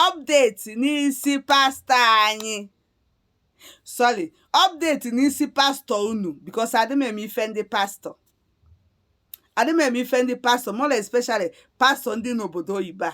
Update n'isi pastọ anyị sorry update n'isi pastọ unu because adị m eme ife ndị pastọ adị m eme ife ndị pastọ more especially pastọ ndị n'obodo oyibo a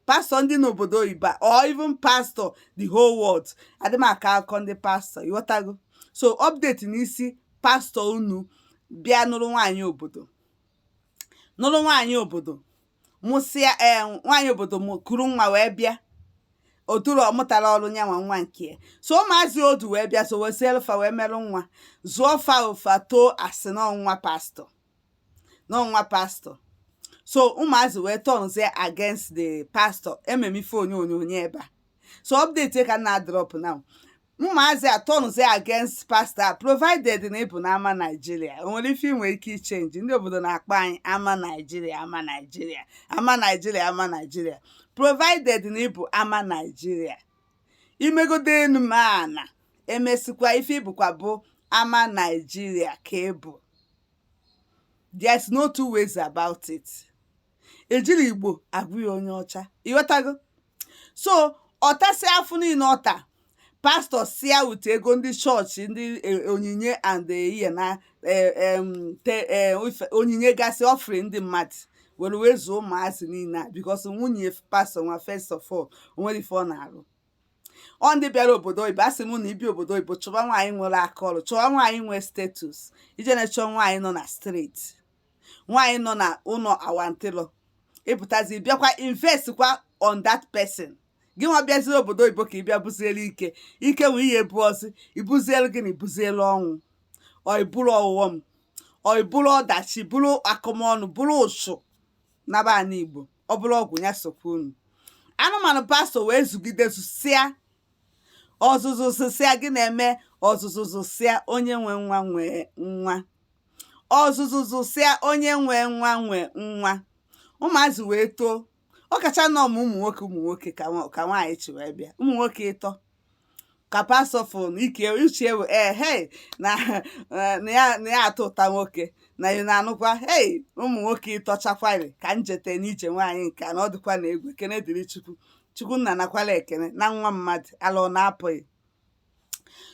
pastọ ndị n'obodo oyibo a or even pastọ the whole world adị m aka akụkọ ndị pastọ ịghọtago so update n'isi pastọ unu bịa nụrụ nwaanyị obodo nụrụ nwaanyị obodo nụsịa ee eh, nwaanyị obodo kuru nwa wee bịa oturu ọ mụtara ọrụ nya nwa nwa nke ya so ụmụazị o du wee bịa so wesielu fa wee merụ nwa zụọ fa o fa too a sị na ọ nwa pastọ na ọ nwa pastọ so ụmụazị wee turnzie against the pastọ ememe ife onyonyo onye ebe a so update ka na drop now Ụmụazị a turnzie against pastor provided na ị bụ na ama Naijiria o nwere ife i nwe ike ị change ndị obodo na-akpọ anyị ama Naijiria ama Naijiria ama Naijiria ama Naijiria provided na ị bụ ama Naijiria i megodo enu ma ana emesikwa ife ị bụkwa bụ ama Naijiria ka ị bụ there's no two ways about it ejiri Igbo agwa ya onye ọcha ịghọtago so ọ tasịa afụfụ niile ọ ta pastọ sia wute ego ndị chọọchị ndị e- onyinye and ihe na e- em, te- e, ife- onyinye gasị offering ndị mmadụ were wee zụọ ụmụazị niile a because nwunye pastọ nwa first of all o nwere ife ọ na-arụ ọ ndị bịara obodo oyibo asị m na i bi obodo oyibo chọba nwaanyị nwere aka ọrụ chọba nwaanyị nwee status i je na-achọ nwaanyị nọ na street nwaanyị nọ na ụnọ awantịlọ i butazi bịakwa invest kwa on that person gị nwa bịaziri obodo oyibo ka ị bịa buzielu ike ike wee ihe ebu ọsị i buzielu gị na i buzielu ọnwụ ọ i buru ọghọm ọ i buru ọdachi buru akụmọnụ bụrụ ozu naba ana Igbo ọ bụrụ ọgwụ ya sokwa unu anụmanụ pastọ wee zụgide zụsịa ọzụzụ zụsịa gị na-eme ọzụzụ zụsịa onye nwe nwa nwee nwa ọzụzụ zụsịa onye nwe nwa nwe nwa ụmụazị wee too ọ kacha nọ ma ụmụ nwoke ụmụ nwoke ka nwa- ka nwaanyị chi wee bịa ụmụ nwoke ịtọ ka pastọ fon ike uche ewe ee hei na eh, na ya na ya atụta nwoke na ị na-anụkwa hei ụmụ nwoke ịtọ chakwari ka m jete n'ije nwaanyị nke a na ọ dịkwa na egwu ekene dịrị Chukwu Chukwu nna nakwala ekene na nwa mmadụ ala ọ na-apụghị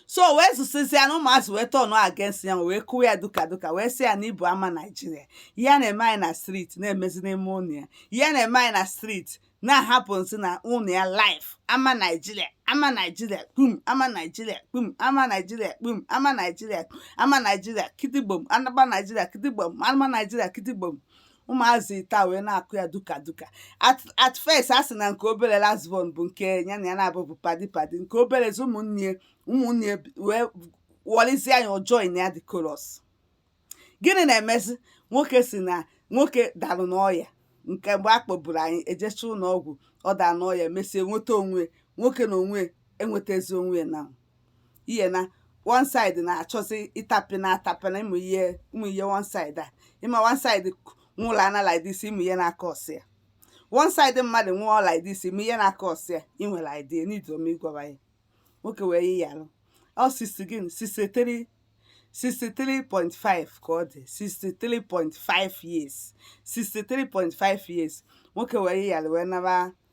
so o wee zụsịsịa na ụmụazị wee turn against ya wee kụwa ya duka duka wee sị ya na ị bụ ama naijiria ihe a na-eme anyị na street na-emezi n'ime ụnọ ya ihe a na-eme anyị na street na-happenzi na ụnọ ya live ama naijiria ama naijiria kpum ama naijiria kpum ama naijiria kpum ama naijiria ama naijiria kitigbom ama naijiria kitigbom ama naijiria kitigbom ụmụazị taa wee na-akụ ya duka duka at first a sị na nke obere last born bụ nke ya na ya na-abụ bụ padi padi nke obere zi ụmụnne ụmụnne wee wọlizie anya ọ join na the chorus gịnị na-emezi nwoke si na nwoke dalụ n'ọya nke mgbe a kpọburu anyị ejecha ụlọ ọgwụ ọ daa n'ọya mesie nweta onwe nwoke na onwe enwetazi onwe na ihe na one side na-achọzi ịtapị na atapị na ịmụ ihe ụmụ ihe one side a ịma one side nwụrụ ana like this ị ma ihe na-akọsa ya one side mmadụ nwụọ like this ị ma ihe na-akọsa ya ị nwere idea n'idu ome ịgwaba ya nwoke wee yịa arụ ọ sisi gị 63 63.5 ka ọ dị 63.5 years 63.5 years nwoke wee yịa arụ wee naba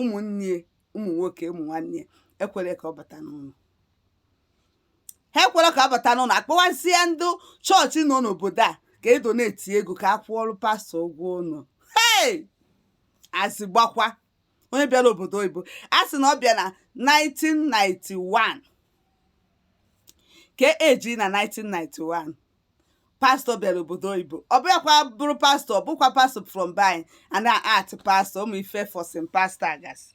ụmụnne ụmụ nwoke ụmụ nwanne ekwerọ ka ọ bata n'ụlọ ha ekwerọ ka ọ bata n'ụlọ a kpọwazie ndị chọọchị nọ n'obodo a ka e donate ego ka a kwụọrọ pastọ ụgwọ ụlọ hey asị gbakwa onye bịara obodo oyibo a sị na ọ bịa na 1991 ka eji na 1991 pastọ bịara obodo oyibo ọ bụghịkwa bụrụ pastọ ọ bụkwa pastọ from by and art pastọ ụmụ ife fọsin pastọ gasị